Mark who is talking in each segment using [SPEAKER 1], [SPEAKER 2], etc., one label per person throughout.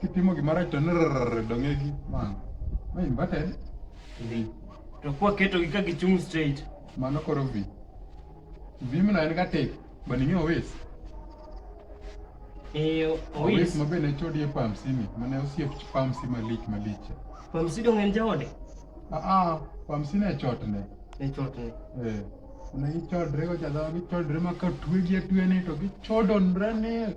[SPEAKER 1] Kitimo gima rach to nrrr dong'egi man. Ma inverted. Dhi. To kwa
[SPEAKER 2] keto gi ka gichung' straight. Mano koro vi.
[SPEAKER 1] Vi mna en ga tek. Baning'e owes. Eh, Owes owis. ma be ne chodi e pamsi ni. Mane osiep pamsi malich malich. Pamsi dong en
[SPEAKER 2] jaode. Ah ah.
[SPEAKER 1] Pamsi ne chot ne. Ne
[SPEAKER 2] chot ne. Eh. Ne
[SPEAKER 1] gichodre go jadhawa gichodre ma ka twegi atwene to gichodonre ne.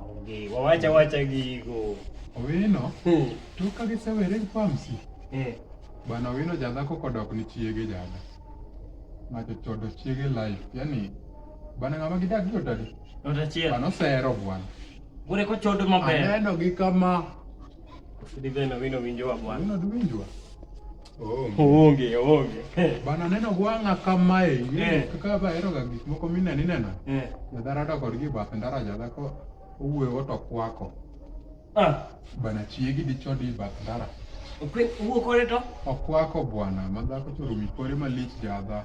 [SPEAKER 1] Onge, wawacha wacha
[SPEAKER 2] gigo. Owino,
[SPEAKER 1] Hmm. to ka gisewere gi pamsi. Eh, Bana Owino jadhako kodok ni chiege jada. Ng'ato chodo chiege life. Yaani, bana ng'ama gidak gi odadi. not achiel. Bana osero
[SPEAKER 2] bwana.
[SPEAKER 1] Bure ko chodo
[SPEAKER 2] maber. Aneno gi kama.
[SPEAKER 1] Sidi
[SPEAKER 2] beno wino winjowa bwana. Owino duwinjwa.
[SPEAKER 1] Onge, onge.
[SPEAKER 2] Bana neno gwang'a
[SPEAKER 1] kamae, eh. kaka baheroga gik moko mine nineno. Eh. Jadhara to kodgi bath ndara jadhako owuoyo to kwako. Ah. Bana chiegi dicho di bath ndara. Owuo
[SPEAKER 2] kore to? Okwako bwana,
[SPEAKER 1] madhako choro mikore malich jadha.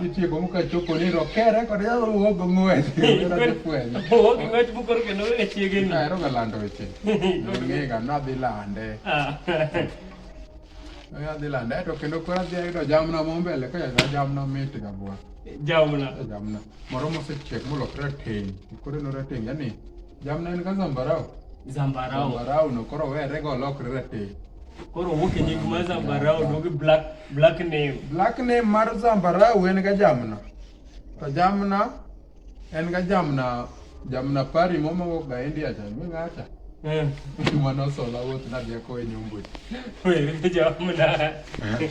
[SPEAKER 1] Nitie gomo ka chopo ni rokere kod yalo wuo go ng'wech. Ero de fwenyo. Wuo go ng'wech bukor ke no e
[SPEAKER 2] chiege ni. Ero ga lando weche.
[SPEAKER 1] Ng'e ga na dhi lande. Oya dhi lande to kendo kora dhi ayudo jamna mo mbele ka yadwa jamna mit ga bwa. Jamna. Jamna. Moro mosechiek molokre rateng'. Koro no rateng' yani Jamna en ka zambarau. Zambarau. Zambarau no koro were go lokre rate. Koro wuok e
[SPEAKER 2] nying mar zambarau dog black black name. Black name mar
[SPEAKER 1] zambarau en ga jamna. To jamna en ga jamna jamna pari momo go ga India cha mi ngacha. Eh. Mano sola wuoth na deko e nyombo. Were ga jamna. Eh.